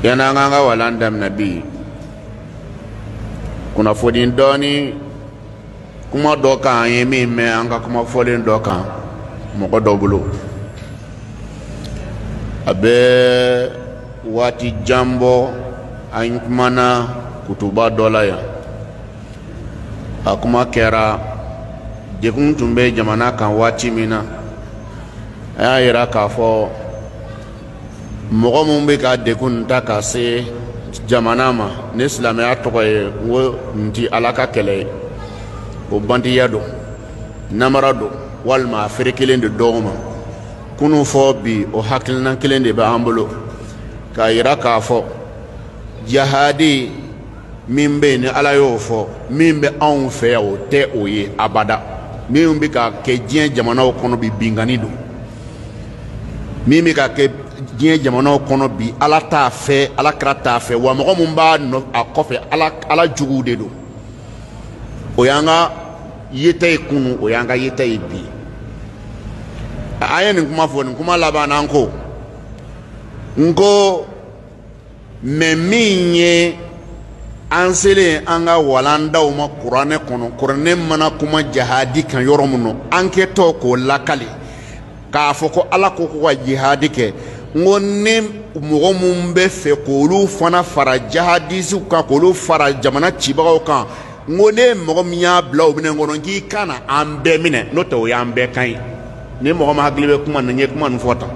yanni an k'an ka walan daminɛ bi kunnafoni dɔɔni kuma dɔ kan an ye min mɛn an ka kuma fɔlen dɔ kan mɔgɔ dɔ bolo a bɛ waati jan bɔ an kumana kutuba dɔ la yan a kuma kɛra degun tun bɛ jamana kan waati min na an y'a yira k'a fɔ mɔgɔ minnu bɛ ka degun ta ka se jamana ma ni silamɛya tɔgɔ ye n ko n ti ala ka kɛlɛ ye o bantiya don namara don walima a feere kelen de dɔw ma kunu fɔ bi o hakilinan kelen de bɛ an bolo k'a yira k'a fɔ jahadi min bɛ yen ni ala y'o fɔ min bɛ anw fɛ yan o tɛ o ye abada min bɛ ka kɛ diɲɛ jamanaw kɔnɔ bi binkanni don min bɛ ka kɛ diɲɛ jamanaw kɔnɔ bi ala t'a fɛ ala kira t'a fɛ wa mɔgɔ min b'a a kɔfɛ ala juguw de don o y'an ka yeta ye kunun o y'an ka yeta ye bi an ye nin kuma fɔ nin kuma laban na n ko n ko mɛ min ye an selen an ka walandaw ma kuranɛ kɔnɔ kuranɛ mana kuma jahadi kan yɔrɔ min na an kɛtɔ k'o lakali k'a fɔ ko ala ko ko ka jihadi kɛ n ko ni mɔgɔ min b'a fɛ k'olu fana fara jahadisiw kan k'olu fara jamana cibagaw kan n ko ni mɔgɔ min y'a bila o minɛn kɔnɔ k'i kana an bɛɛ minɛ n'o tɛ o y'an bɛɛ kan ye ni mɔgɔ min hakili bɛ kuma na n ye kuma nin fɔ tan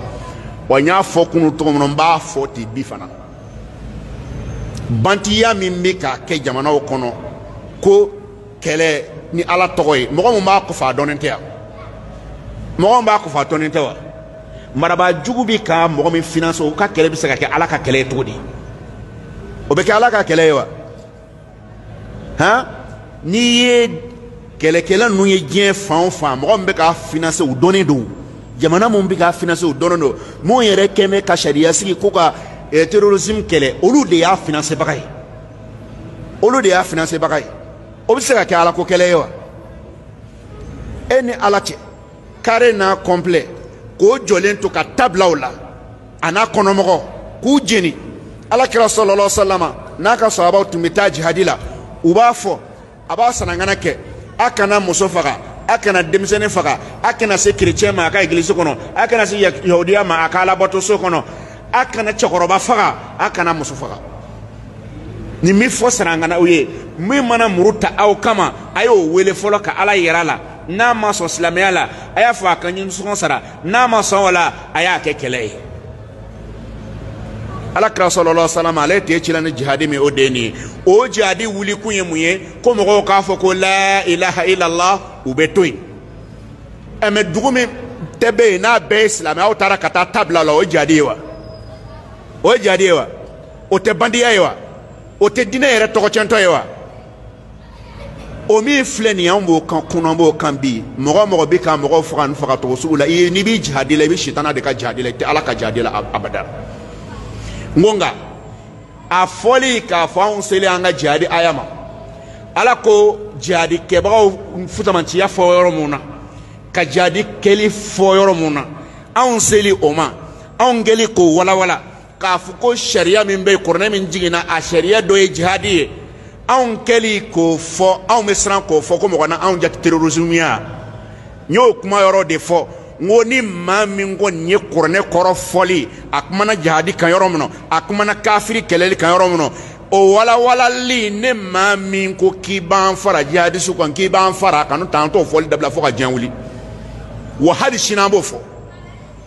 wa n y'a fɔ kunu cogo min na n b'a fɔ ten bi fana bantiya min bɛ ka kɛ jamanaw kɔnɔ ko kɛlɛ ni ala tɔgɔ ye mɔgɔ min b'a kɔfɛ a dɔnnen tɛ wa mɔgɔ min b'a kɔfɛ a dɔnnen tɛ wa marabaa jugu bɛ ka mɔgɔ min finance o ka kɛlɛ bɛ se ka kɛ ala ka kɛlɛ ye cogo di o bɛ kɛ ala ka kɛlɛ ye wa han n'i ye kɛlɛkɛla ninnu ye diɲɛ fan o fan mɔgɔ min bɛ k'a finanse u dɔnnen don jamana minnu bɛ k'a finanse u dɔnnen don minnu yɛrɛ kɛn bɛ ka sariya sigi ko ka eh, terrorisme kɛlɛ olu de y'a finansebaga ye olu de y'a finansebaga ye o bɛ se ka kɛ ala ko kɛlɛ ye wa e ni ala cɛ kaare n'a complet k'o jɔlen to ka ta bila o la a n'a kɔnɔmɔgɔ k'u jeni ala kira sallallahu alaihi wasallam n'a ka sahabaw tun bɛ taa jihadi la u b'a fɔ a b'a sarankanna kɛ a kana muso faga a kana denmisɛnnin faga a kana se kerecɛn ma a ka egilisi kɔnɔ a kana se yahudiya ma a ka alabatoso kɔnɔ a kana cɛkɔrɔba faga a kana muso faga nin min fɔ sarankanna u ye min mana muru ta aw kama a y'o wele fɔlɔ ka ala yira a la n'a ma sɔn silamɛya la a y'a fɔ a ka nisɔngɔ sara n'a ma sɔn o la a y'a kɛ kɛlɛ ye ala kira sallallahu alaihi wasallam ale tɛ cila ni jihadi min o de nin ye o jihadi wulikun ye mun ye ko mɔgɔw k'a fɔ ko la ilaha illallah u bɛ to yen ɛ mɛ dugu min tɛ bɛ yen n'a bɛɛ ye silamɛ aw taara ka taa ta bila la o ye jihadi ye wa o ye jihadi ye wa o tɛ bandiya ye wa o tɛ diinɛ yɛrɛ tɔgɔcɛntɔ ye wa o min filɛ nin anw b'o kan kunun an b'o kan bi mɔgɔ o mɔgɔ bɛ ka mɔgɔw faga nin fagacogo sugu la i n'i bɛ jihadi la i bɛ sitana de ka jihadi la i tɛ ala ka jihadi la abada n ko nka a fɔli k'a fɔ anw seli an ka jihadi aya ma ala ko jihadi kɛbagaw fusamanciya fɔ yɔrɔ mun na ka jihadi kɛli fɔ yɔrɔ mun na anw seli o ma anw kɛli k'o walawala k'a fɔ ko sariya min bɛ yen kuranɛ min jiginna a sariya dɔ ye jihadi ye anw kɛli k'o fɔ anw bɛ siran k'o fɔ ko mɔgɔ na anw jate terrorisme ya n y'o kuma yɔrɔ de fɔ n ko ni maa min ko nin ye kuranɛ kɔrɔ fɔli a kumana jihadi kan yɔrɔ min na a kumana kafiri kɛlɛli kan yɔrɔ min na o walawalali ni maa min ko k'i b'an fara jihadisiw kan k'i b'an fara a kan n'o tɛ an t'o fɔli dabila fo ka diɲɛ wuli wa hali sini an b'o fɔ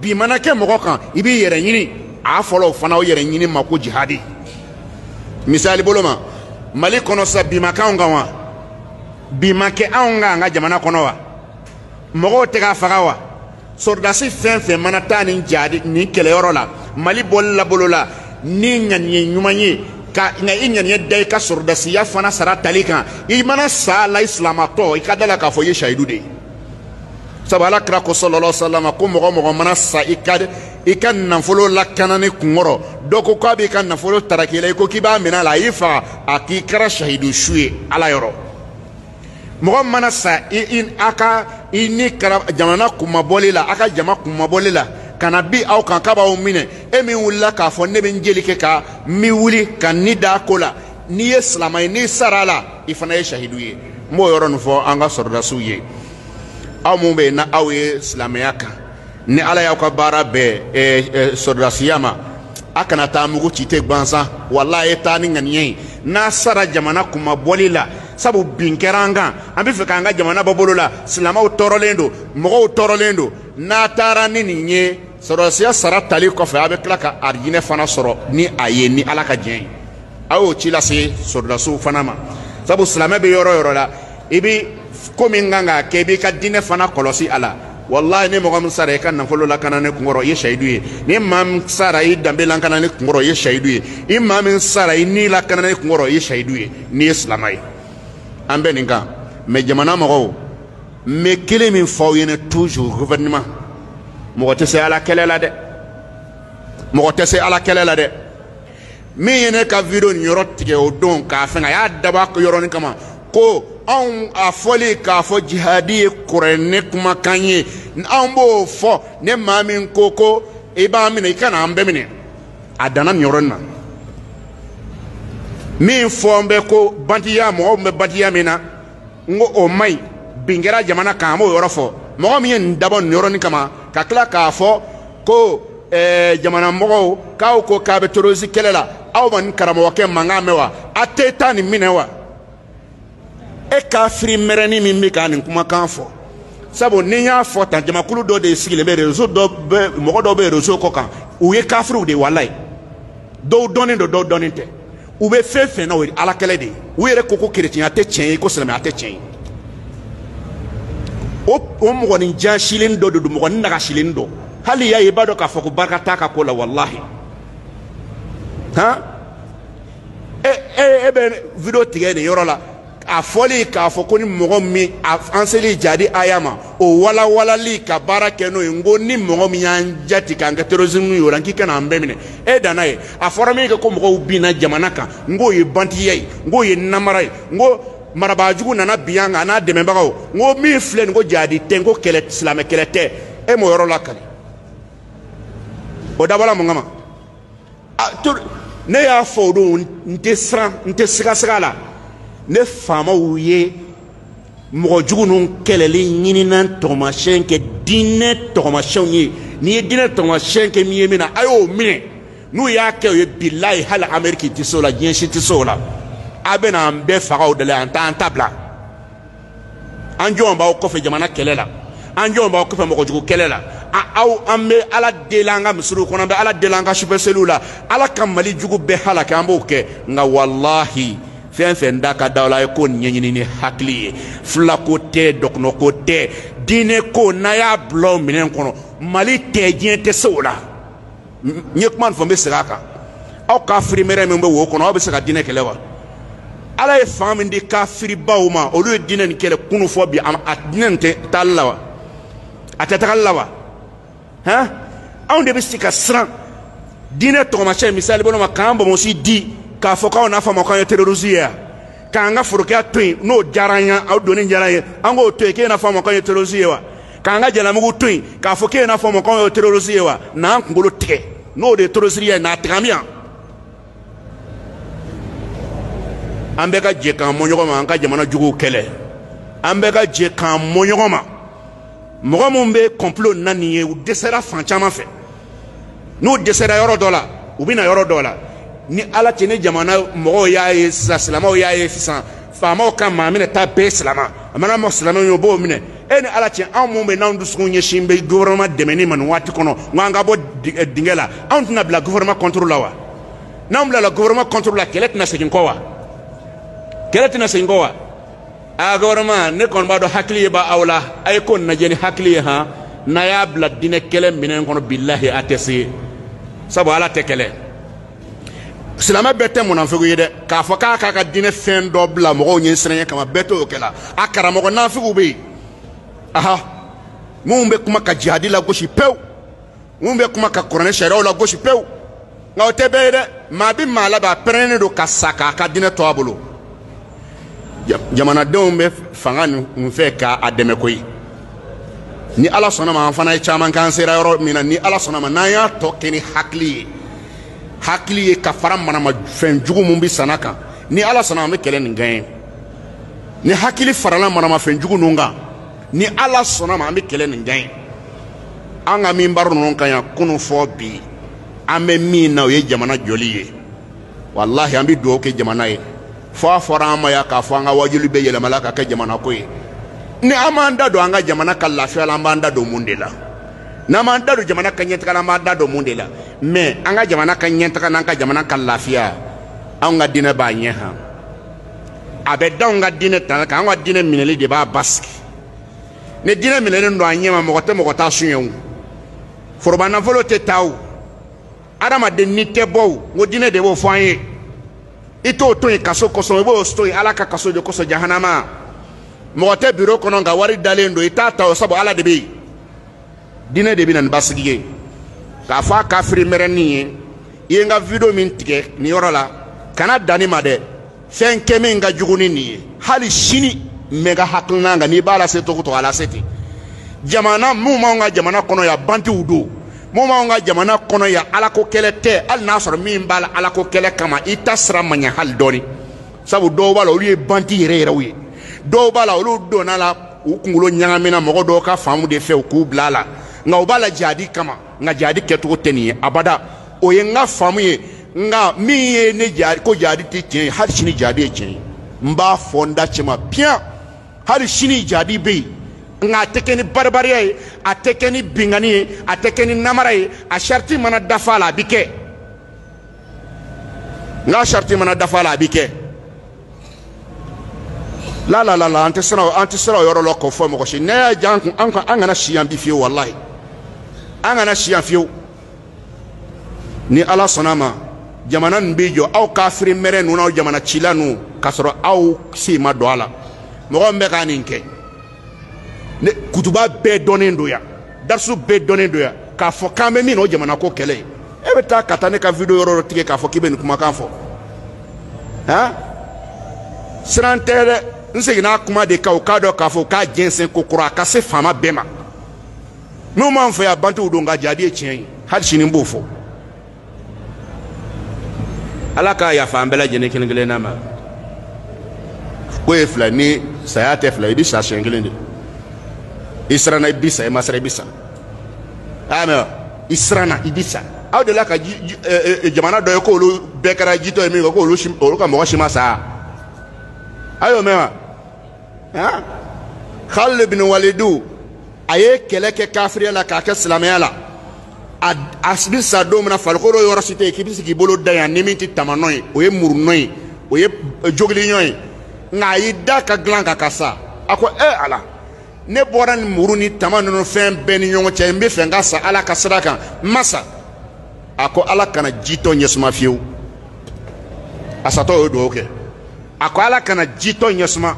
bin mana kɛ mɔgɔ kan i b'i yɛrɛ ɲini a fɔla o fana o yɛrɛ ɲini ma ko jihadi misali bolo ma mali kɔnɔ sa bin ma kɛ anw kan wa bin ma kɛ anw kan an ka jamana kɔnɔ wa mɔgɔw tɛ ka faga wa sɔrɔdasi fɛn fɛn mana taa nin jihadi nin kɛlɛyɔrɔ la mali bɔli la bolo la ni ŋaniye ɲuman ye ka nka i ŋaniye da i ka sɔrɔdasiya fana sara tali kan i mana sa la i silamatɔ i ka da la k'a fɔ i ye sahidu de ye sabu ala kira ko sallallahu alaihi wasallam ko mɔgɔ mɔgɔ mana sa i ka i ka nafolo lakanani kunkɔrɔ dɔ ko k'a b'i ka nafolo taraki i la i ko k'i b'a minɛ a la a y'i faga a k'i kɛra sahidu su ye ala yɔrɔ mɔgɔ mana sa i i a ka i ni kɛra jamana kunmabɔli la a ka jama kunmabɔli la ka na bin aw kan k'a b'aw minɛ e min wulila k'a fɔ ne bɛ n jeli kɛ a kan n bɛ wuli ka n ni da ko la n'i ye silama ye n'i sara a la i fana ye sahidu ye n b'o yɔrɔ nin fɔ an ka sɔrɔdasiw ye aw minnu bɛ yen na aw ye silamɛya kan ni ala y'aw ka baara bɛn eh, eh, sɔrɔdasiya ma a kana taa mugu ci ten gansan wala a ye taa ni ŋaniya ye n'a sara jamana kunmabɔli la sabu bin kɛra an kan an b'a fɛ k'an ka jamana bɔ bolo la silamɛw tɔɔrɔlen don mɔgɔw tɔɔrɔlen don n'a taara ni nin ye sɔrɔdasiya sara tali kɔfɛ a bɛ tila ka arijinɛ fana sɔrɔ ni a ye ni ala ka diɲɛ ye aw y'o ci lase sɔrɔdasiw fana ma sabu silamɛ bɛ yɔrɔ yɔrɔ la i bɛ ko min kan k'a kɛ i b'i ka diinɛ fana kɔlɔsi a la walayi ni mɔgɔ min sara i ka nafolo lakanani kunkɔrɔ i ye sahidu ye ni maa min sara i danbe lakanani kunkɔrɔ i ye sahidu ye i maa min sara i ni lakanani kunkɔrɔ i ye sahidu ye n'i ye silama ye an bɛ nin kan mɛ jamana mɔgɔw n bɛ kelen min fɔ aw ɲɛna toujours gouvernement mɔgɔ tɛ se ala kɛlɛ la dɛ mɔgɔ tɛ se ala kɛlɛ la dɛ min ye ne ka video nin yɔrɔ tigɛ o don k'a fɛn a y'a dabɔ a yɔrɔnin kama ko anw a fɔli k'a fɔ jihadi ye kuranɛ kumakan ye anw b'o fɔ ni maa min ko ko i b'an minɛ i ka na an bɛɛ minɛ a danna nin yɔrɔnin na min fɔlen bɛ ko bandiya mɔgɔw bɛ bandiya min na n ko o man ɲi bin kɛra jamana kan an b'o yɔrɔ fɔ mɔgɔ min ye nin dabɔ nin yɔrɔnin kama ka tila k'a fɔ ko eh, jamana mɔgɔw k'aw ko k'a bɛ terorisi kɛlɛ la aw ma nin karamɔgɔkɛ mankan mɛn wa a tɛ taa nin minɛ wa e kafiri mɛrɛnin min bɛ ka nin kumakan fɔ sabu ni n y'a fɔ tan jamakulu dɔ de sigilen bɛ rezo dɔ bɛ mɔgɔ dɔw bɛ rezo kɔ kan u ye kafiriw de walayi dɔw dɔnnen don dɔw dɔnnen tɛ u bɛ fɛn fɛn na o ye ala kɛlɛ de ye u yɛrɛ ko ko kerecɛnya tɛ tiɲɛ ye ko silamɛya tɛ tiɲɛ ye o o mɔgɔnin jaasilen dɔ de don mɔgɔnin nagasilen dɔ hali i y'a ye i b'a dɔn k'a fɔ ko barika t'a ka ko la walahi han e e e bɛ video tigɛ nin yɔrɔ la a fɔli k'a fɔ ko ni mɔgɔ min an seli jadi aya ma o walawalali ka baara kɛ n'o ye n ko ni mɔgɔ min y'an jati k'an kɛ terrorisme y'o la k'i ka na an bɛɛ minɛ e danna yen a fɔra min kɛ ko mɔgɔw binna jamana kan n k'o ye banditiya ye n k'o ye namara ye n ko marabaajugu nana bin an kan a n'a dɛmɛbagaw n ko min filɛ nin ko jadi tɛ n ko kɛlɛ silamɛ kɛlɛ tɛ e m'o yɔrɔ lakali o dabɔla mun kama ah, ne y'a fɔ o don n tɛ siran n tɛ sigasiga a la ni faamaw ye mɔgɔ jugu ninnu kɛlɛli ɲinina tɔgɔmasiyɛn kɛ diinɛ tɔgɔmasiyɛnw ye n'i ye diinɛ tɔgɔmasiyɛn kɛ min ye min na a y'o minɛ n'u y'a kɛ o ye bilayi hali ameriki tɛ se o la diɲɛ si tɛ se o la a bɛna an bɛɛ faga o de la an t'an ta bila an jɔlen b'aw kɔfɛ jamana kɛlɛ la an jɔlen b'aw kɔfɛ mɔgɔjugu kɛlɛ la aw an bɛ ala deli an ka misiriw kɔnɔ an bɛ ala deli an ka sufɛ seliw la ala ka mali jugu bɛɛ halaki an b'o kɛ nka walahi fɛn fɛn da ka da la ye ko ɲɛɲini ni hakili ye filako tɛ dɔgɔnɔko tɛ diinɛ ko n'a y'a bila o minɛn kɔnɔ mali tɛ diɲɛ tɛ se o la n ye kuma nin fɔ n bɛ segin a kan aw kafiri mɛrɛ min bɛ wo kɔnɔ aw bɛ se ka diinɛ kɛlɛ wa ala ye fanga min di kafiribaw ma olu ye diinɛ nin kɛlɛ kunu fɔ bi a diinɛ nin tɛ taali la wa a tɛ tagali la wa hɛn anw de bɛ se ka siran diinɛ tɔgɔmasiyɛn misali bolo ma k'an bonsi di k'a fɔ k'aw n'a fɔ an ma k'an ye terorisi ye yan k'an ka forokiya to yen n'o diyara an ye a donni diyara an ye an k'o to yen k'e n'a fɔ an ma k'an ye terorisi ye wa. k'an ka jalamugu to yen k'a fɔ k'e n'a fɔ an ma k'anw ye terorisi ye wa n'an kunkolo tigɛ n'o de ye terorisiya ye n'a tigɛ an bɛ yan an bɛɛ ka jɛ k'an mɔ ɲɔgɔn ma an ka jamana juguw kɛlɛ an bɛɛ ka jɛ k'an mɔ ɲɔgɔn ma mɔgɔ minnu bɛ kɔnpilo na nin ye u dɛsɛra fan caman fɛ n'u dɛsɛra yɔrɔ dɔ la u bɛ na yɔrɔ dɔ la ni ala cɛ ni jamana mɔgɔw y'a ye sisan silamɛw y'a ye sisan faamaw ka maa minɛta bɛɛ silama a mana mɔ silamɛw ye o b'o minɛ e ni ala cɛ anw minnu bɛ n'anw dusukun ɲɛsinnen bɛ gouvernement dɛmɛni ma nin waati kɔnɔ n ko an ka bɔ eh, dingɛ la anw tɛna bila gouvernement contre la wa n'anw bilala gouvernement contre la kɛlɛ tɛna segin kɔ wa kɛlɛ tɛna segin kɔ wa aa gouvernement ne kɔni b'a dɔn hakili ye b'aw la a ye ko nin lajɛ ni hakili ye han n'a y'a bila diinɛ kɛlɛ minɛn kɔnɔ bilahi a tɛ se sabu ala tɛ kɛlɛ silamɛ bɛɛ tɛ munafigi ye dɛ k'a fɔ k'a k'a ka diinɛ fɛn dɔ bila mɔgɔw ɲɛsiranɲɛ kama bɛɛ t'o kɛla a karamɔgɔ nafigiw bɛ yen aha minnu bɛ kuma ka jihadi lagosi pewu minnu bɛ kuma ka kuranɛ sariyaw lagosi pewu nka o tɛ bɛɛ ye dɛ maa bɛ maa la bɛ a pɛrɛnnen don ka sa k'a ka diinɛ to a bolo jamanadenw bɛ fanga ninnu fɛ ka a dɛmɛ koyi ni ala sɔnna ma an fana ye caman kɛ an sera yɔrɔ min na ni ala sɔnna ma n'an y'a tɔ kɛ ni hakili ye hakili ye ka fara maramafɛn jugu min bɛ sanna kan ni ala sɔnna an bɛ kɛlɛ nin gaɲɛ ni hakili farala maramafɛn jugu ninnu kan ni ala sɔnna ma an bɛ kɛlɛ nin gaɲɛ an ka minbaru ninnu kan yan kunu fɔ bi an bɛ min na o ye jamana jɔli ye walahi an bɛ dugawu kɛ jamana ye fɔ a fɔra an ma yan k'a fɔ an ka wajuli bɛɛ yɛlɛmala ka kɛ jamana ko ye ni an m'an da don an ka jamana ka lafiya la an b'an da don mun de la n'an m'an da don jamana ka ɲɛtaga la an b'an da don mun de la mɛ an ka jamana ka ɲɛtaga n'an ka jamana ka lafiya anw ka diinɛ b'a ɲɛ han a bɛ d'anw ka diinɛ tali kan anw ka diinɛ minɛli de b'a basigi ni diinɛ minɛlen don a ɲɛma mɔgɔ tɛ mɔgɔ ta suɲɛ o foroba nafolo tɛ ta o adamaden ni tɛ bɔ o n ko diinɛ de b'o fɔ an ye i t'o to yen kaso kosɔn i b'o to yen ala ka kaso de kosɔn jahanama mɔgɔ tɛ biro kɔnɔ nka wari dalen don i t'a ta o sabu ala de bɛ yen diinɛ de bɛ na ni basigi ye k'a fɔ a kafiri mɛrɛnin ye i ye n ka video min tigɛ nin yɔrɔ la kana dan nin ma dɛ fɛn kɛ min ka jugu ni nin ye hali sini n bɛ n ka hakilina kan n'i b'a lase cogo o cogo a lase ten jamana minnu b'anw ka jamana kɔnɔ yan bantiw don minnu b'anw ka jamana kɔnɔ yan alako kɛlɛ tɛ hali n'a sɔrɔ min b'a la alako kɛlɛ kama i taasira ma ɲɛ hali dɔɔni sabu dɔw b'a la olu ye banti yɛrɛ yɛrɛw ye dɔw b'a la olu donna a la u kunkolo ɲagamina mɔgɔ dɔw ka faamu de fɛ u k'u bila a la nka u b'a la jadi kama nka jadi kɛcogo tɛ nin ye abada o ye n ka faamu ye nka min ye ne jadi ko jadi tɛ tiɲɛ ye hali sini jadi ye tiɲɛ ye n b'a fɔ n da cɛma piyan hali sini jadi bɛ yen nka a tɛ kɛ ni baribariya ye a tɛ kɛ ni binkanni ye a tɛ kɛ ni namara ye a sariti mana dafa a la a bɛ kɛ n'a sariti mana dafa a la a bɛ kɛ la la la la an tɛ siran an tɛ siran o yɔrɔ la k'o fɔ mɔgɔ si n'a y'a diya an kun an ka an kana si yan bi fiyewu walayi an kana si yan fiyewu ni ala sɔnna a ma jamana nin bɛ jɔ aw kafiri mɛrɛ ninnu n'aw jamana cila ninnu k'a sɔrɔ aw sen ma don a la mɔgɔ min bɛ ka nin kɛ ne kutuba bɛɛ dɔnnen don yan darisu bɛɛ dɔnnen don yan k'a fɔ k'an bɛ min na o jamana ko kɛlɛ ye e bɛ taa ka taa ne ka video yɔrɔ dɔ tigɛ k'a fɔ k'i bɛ nin kumakan fɔ han siran tɛ dɛ n seginna kuma de kan u k'a dɔn k'a fɔ k'a jɛnsɛn kokura a ka se faama bɛɛ ma minnu b'an fɛ yan bantiw don nka jadi ye tiɲɛ ye hali sini n b'o fɔ ala ka yafa an bɛɛ lajɛlen kelen kelenna ma ko ye fila ni saya tɛ fila i bɛ sa siɲɛ kelen de i siranna i bɛ sa i ma siran i bɛ sa a y'a mɛn wa i siranna i bɛ sa aw delila ka jamana dɔ ye k'olu bɛɛ kɛra jitɔ ye min kɛ k'olu ka mɔgɔ si ma sa aw y'o mɛn wa ah Khalid bin Walidu a ye kɛlɛ kɛ kafiriya la k'a kɛ silamɛya la a a bɛ sa don min na farikolo yɔrɔ si tɛ yen k'i bɛ se k'i bolo da yan ni min tɛ tamanɔ ye o ye murunɔ ye o ye jogilinɔ ye nka a y'i da ka dilan kan ka sa a ko ɛ ala ne bɔra ni muru ni tama ninnu fɛn bɛɛ ni ɲɔgɔn cɛ n b'a fɛ n ka sa ala ka sira kan n ma sa a ko ala kana jitɔ ɲɛ suma fiyewu a satɔ ye dugawu kɛ a ko ala kana jitɔ ɲɛ suma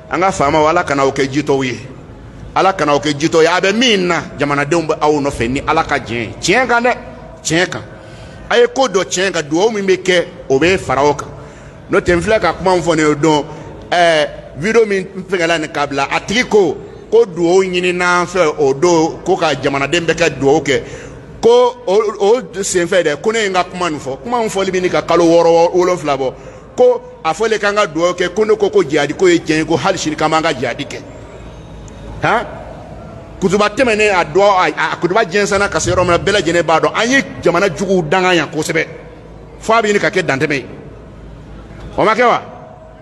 an ka faamaw ala kana aw kɛ jitɔw ye ala kana aw kɛ jitɔ ye a bɛ min na jamanadenw bɛ aw nɔfɛ ni ala ka diɲɛ ye tiɲɛ kan dɛ tiɲɛ kan a ye ko dɔ tiɲɛ kan dugawu min bɛ kɛ o bɛ fara o kan n'o tɛ n filɛ ka kuma min fɔ nin ye o don ɛɛ video min fɛngɛla nin k'a bila a tigi ko ko dugawu ɲinina an fɛ o don ko ka jamanaden bɛɛ ka dugawu kɛ ko o senfɛ dɛ ko ne ye n ka kuma nin fɔ kuma min fɔli bɛ ɲini ka kalo wɔɔrɔ wolonwula bɔ ko a fɔlen k'an ka dugawu kɛ ko ne ko ko jihadi ko ye tiɲɛ ye ko hali sini k'an b'an ka jihadi kɛ han kutuba tɛmɛnen a dugawu a kutuba jɛnsɛnna ka se yɔrɔ min na bɛɛ lajɛlen b'a dɔn an ye jamana juguw danga yan kosɛbɛ f'a bɛ ɲini ka kɛ dantɛmɛ ye o ma kɛ wa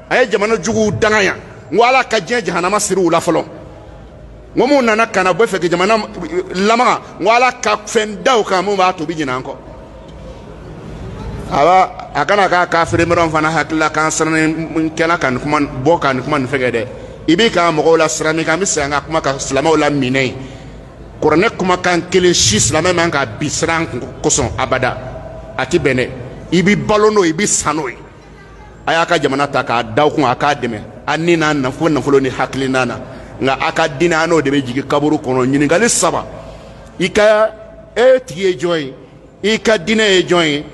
an ye jamana juguw danga yan n ko ala ka diɲɛ jahanama siri u la fɔlɔ n ko minnu nana ka na b'a fɛ ka jamana lamaga n ko ala ka fɛn da u kan min b'a to u bɛ ɲinɛ an kɔ aba a kana kɛ kafiri mɛrɛnw fana hakili la k'an sirannen kɛla ka nin kuma bɔ ka nin kuma nin fɛgɛ dɛ i b'i ka mɔgɔw lasiran min kan an bɛ segin an ka kuma ka silamɛw la minɛ yen kuranɛ kumakan kelen si silamɛ man ka bi siran kosɔn abada a ti bɛn dɛ i bɛ balo n'o ye i bɛ sa n'o ye a y'a ka jamana ta k'a da aw kun a k'a dɛmɛ a ni n'a nafolo nafolo ni hakilina na nka a ka diinɛ a n'o de bɛ jigin kaburu kɔnɔ ɲininkali saba i ka e tigi ye jɔn ye i ka diinɛ ye jɔn ye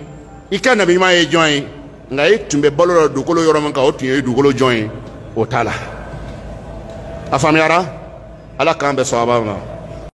i ka nabiɲuman ye jɔn ye nka i tun bɛ balo la dugukolo yɔrɔ min kan o tun ye dugukolo jɔn ye o t'a la a faamuyara ala k'an bɛn sawaba ma